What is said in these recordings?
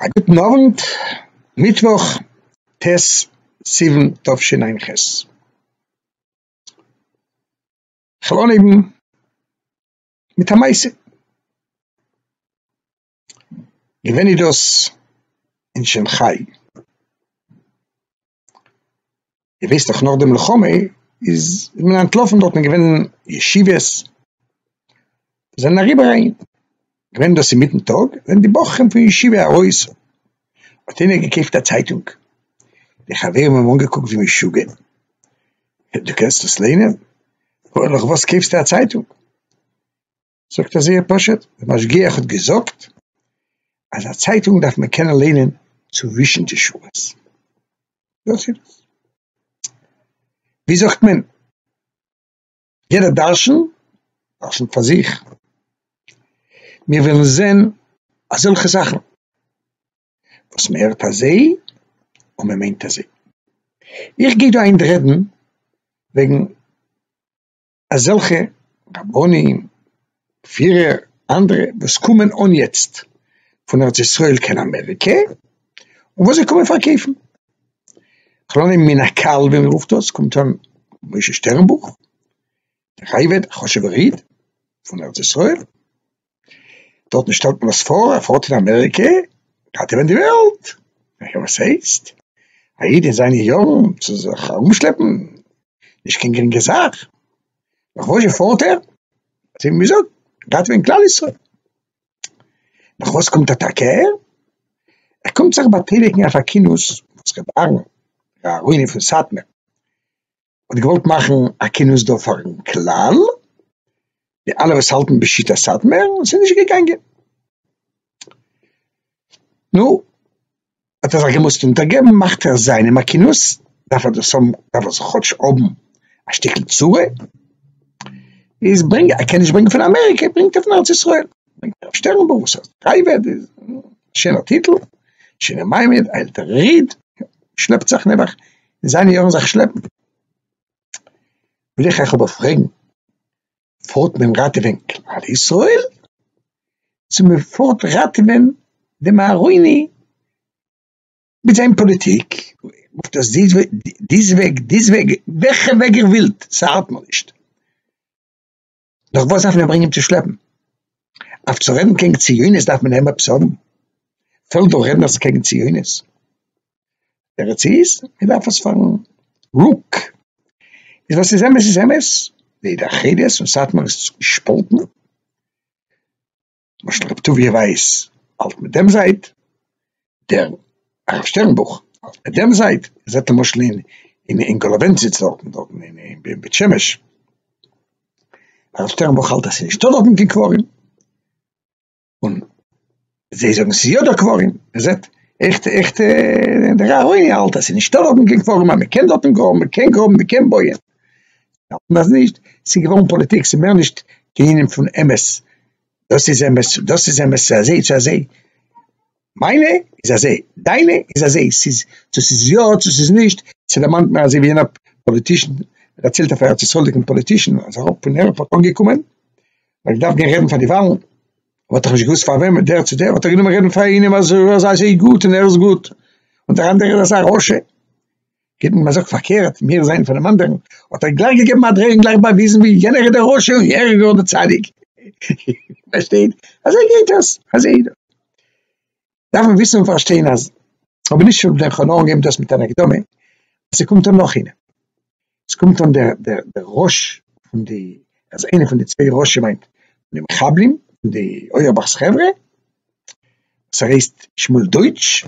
א גוטן אוונט, מיטוואך ט' סיוון תשע"ח, איך וויל אנהייבן מיט א מעשה, געווען איז דאס אין שאנכיי. איר וויסט דאך נאך די מלחמה איז מען אנטלאפן דארט איז געווען ישיבות זענען אריבער אהין געווען דאס אינמיטן טאג זענען די בחורים פון ישיבה ארויס האט איינער געקויפט א צייטונג די חברים האבן אנגעקוקט ווי משוגע דו קענסט דאס ליינען? וואס קויפסטו א צייטונג? זאגט ער זייער פשוט, דער משגיח האט געזאגט אז א צייטונג דארף מען קענען ליינען צווישן די שורות, דאס איז דאס. ווי זאגט מען, יעדער דרשן דרשנ'ט פאר זיך, מיר ווילן זען אזעלכע זאכן וואס מען הערט אזוי און מען מיינט אזוי. איך גיי דא היינט רעדן וועגן אזעלכע רבנים, פירער, אנדערע וואס קומען אן יעצט פון ארץ ישראל קיין אמעריקע, און וואס זיי קומען פארקויפן. כ'לאנען מן הקהל ווי מען רופט דאס, קומט אן משה שטערנבוך, דער אייוועלט, א חשוב'ער איד פון ארץ ישראל, דארטן שטעלט מען עס פאר א פארט אין אמעריקע גייט איבער די וועלט, הער וואס ס'הייסט, א איד אין זיינע יארן צו זיך ארומשלעפן נישט קיין גרינגע זאך, נאך וואזשע פארט ער? אזוי ווי מ'זאגט גייט ווען כלל ישראל, נאך וואס קומט אטאקע ער? ער קומט זיך באטייליגן אויף א כינוס וואס ר' אהרן ר' אהרוני פון סאטמער האט געוואלט מאכן א כינוס דא פארן כלל, די אלע וואס האלטן בשיטת סאטמער, ס'איז נישט געגאנגען, נו, האט ער זיך געמוזט אונטערגעבן, מאכט ער זיינעם א כינוס, דארף ער דאס האבן, דארף ער זיך כאטש האבן א שטיקל צורה, איז ברענג, ער קען נישט ברענגען פון אמעריקע, ברענגט ער פון ארץ ישראל, ברענגט ער הרב שטערנבוך וואס האט פרייוועט, שוין א טיטל, שוין א מעמד, א עלטערע איד, שלעפט זיך נעבעך אין זיינע יארן זיך שלעפן, וויל איך אייך אבער פרעגן, פארט מען ראטעווען כלל ישראל, צו מען פארט ראטעווען דעם אהרוני מיט זיין פאליטיק, רופט עס די וועג, דיס וועג, וועלכע וועג איר ווילט, ס'הארט מיר נישט. נאך וואס דארף מען אים ברענגען צו שלעפן? אויף צו רעדן קעגן ציונות דארף מען אים עפעס האבן? פעלט דא רעדנערס קעגן ציונות? תירוץ איז, מען דארף עס פארן רוק. איז וואס איז אמת איז אמת, די התאחדות און סאטמאר איז געשפאלטן. למשל רבי טוביה ווייס האלט מיט דעם זייט, דער הרב שטערנבוך האלט מיט דעם זייט, מען זעט למשל אין אין גאלאווענציץ דארטן דארטן אין בית שמש, הרב שטערנבוך האלט אז ס'איז נישטא דארטן קיין קברים, און זיי זאגן ס'איז יא דא קברים, מען זעט עכט עכט דער אהרוני האלט אז ס'איז נישטא דארטן קיין קברים אז מען קען דארטן גראבן, מען קען גראבן, מען קען בויען און אז נישט, ס'איז געווארן פאליטיק, ס'איז מער נישט קיין ענין פון אמת, דאס איז אמת, דאס איז אמת, ס'איז אזוי, ס'איז אזוי, מיינע איז אזוי, דיינע איז אזוי, ס'איז צו ס'איז יא צו ס'איז נישט, ס'דערמאנט מיר אזוי ווי יענער פאליטישן דערציילט אויף א ארץ ישראל'דיגן פאליטישן אז ער פון עירפארט אנגעקומען, ער האט געדארפט גיין רעדן פאר די וואלן, ער האט דאך נישט געוואוסט פאר וועם, דער צו דער, האט ער גענומען רעדן פאר איינעם אז ער איז אזוי גוט און ער איז גוט, און דער אנדערער איז אזא רשע. געבן מען זאגט פארקערט מער זיין פונעם אנדערן האט ער גלייך געגעבן א דרעי און גלייך באוויזן ווי יענער איז דער רשע און ער איז גאר דער צדיק פארשטייט אזוי גייט עס אזוי דארף מען וויסן און פארשטיין אז אבער נישט פון דער חלום געבן דאס מיט אן הקדמה ס'קומט אן נאך איינער ס'קומט אן דער דער דער ראש פון די אז איינער פון די צוויי ראשי מיינט די מחבלים די אויערבאך'ס חברה ס'הייסט שמואל דויטש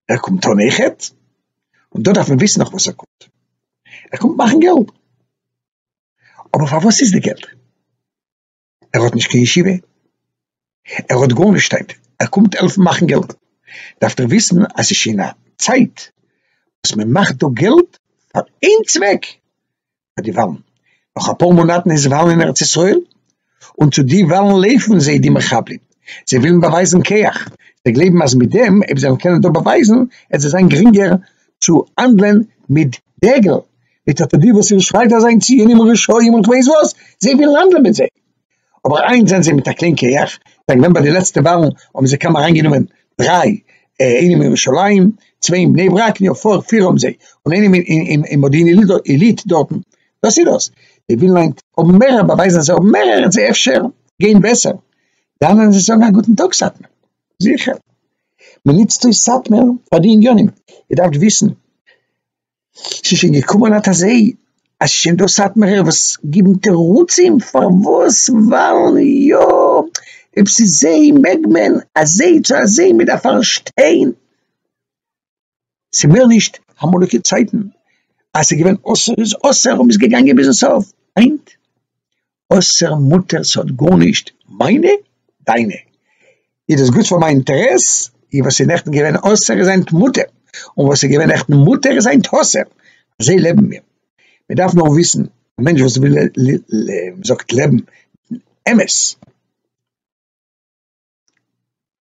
ער קומט אן איכעט, און דא דארף מען וויסן נאך וואס ער קומט, ער קומט מאכן געלט, אבער פארוואס איז די געלט? ער האט נישט קיין ישיבה, ער האט גארנישט היינט, ער קומט העלפן מאכן געלט, דארפט איר וויסן אז ס'איז שוין א צייט וואס מען מאכט דא געלט פאר איין צוועק, ביי די וואלן, נאך אפאר מאנאטן איז וואלן אין ארץ ישראל, און צו די וואלן לעפן זיי די מחבלים, זיי ווילן באווייזן כח, זיי גלייבן אז מיט דעם אויב זיי וועלן קענען דא באווייזן עט זיי זיין גרינגער צו האנדלען מיט דגל, מיט אט די וואס איר שרייט אז זיין ציונים און רשעים און כ'ווייס וואס, זיי ווילן האנדלען מיט זיי. אבער איינס זענען זיי מיט א קליין כח, זיי געווען ביי די לעצטע וואלן האבן זיי קוים אריינגענומען דריי, איינעם אין ירושלים, צוויי אין בני ברק, נו פאר פיר האבן זיי, און איינעם אין מודיעין עילית דארטן, דאס איז דאס, די ווילן היינט האבן מער באווייזן אז זיי האבן מער הערן זיי אפשר גיין בעסער, די אנדערע זיי זאגן א גוטן טאג סאטמער, זיכער, מען נוצט אויס סאטמער פאר די עניינים, איר דארפט וויסן. ס'איז שוין געקומען אט אזוי אז ס'איז שוין דא סאטמארער וואס גיבן תירוצים פארוואס ווייל יא אויב ס'איז זיי מעג מען אזוי צו אזוי מ'דארף פארשטיין ס'מער נישט אמאליגע צייטן אז ס'איז געווען אסור איז אסור און מ'איז געגאנגען ביזן סוף היינט אויסער מוטער'ס האט גארנישט, מיינע? דיינע? איז דאס גוט פאר מיין אינטערעס? און וואס איז נעכטן געווען אסור איז היינט מותר, און וואס איז געווען נעכטן מותר איז היינט אסור, אזוי לעבן מיר, מען דארף נאר וויסן, א מענטש וואס וויל מען זאגט לעבן אמת.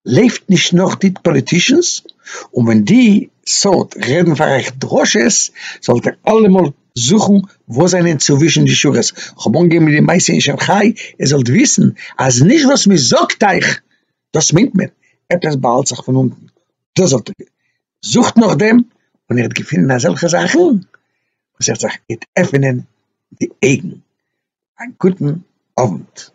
לעבט נישט נאך די פאליטישאנס, און ווען די סארט רעדן פאר אייך דרשות, זאלט איר אלעמאל זוכן וואס זענען צווישן די שורות, כ'האב אנגעהויבן מיט די מעשה אין שאנכיי, איר זאלט וויסן אז נישט וואס מען זאגט אייך דאס מיינט מען, עפעס באהאלט זיך פון אונטן, דאס זאלט איר וויסן, זוכט נאכדעם און איר וועט געפינען אזעלכע זאכן וואס איר וועט זיך עפענען די אויגן, א גוטן אוונט.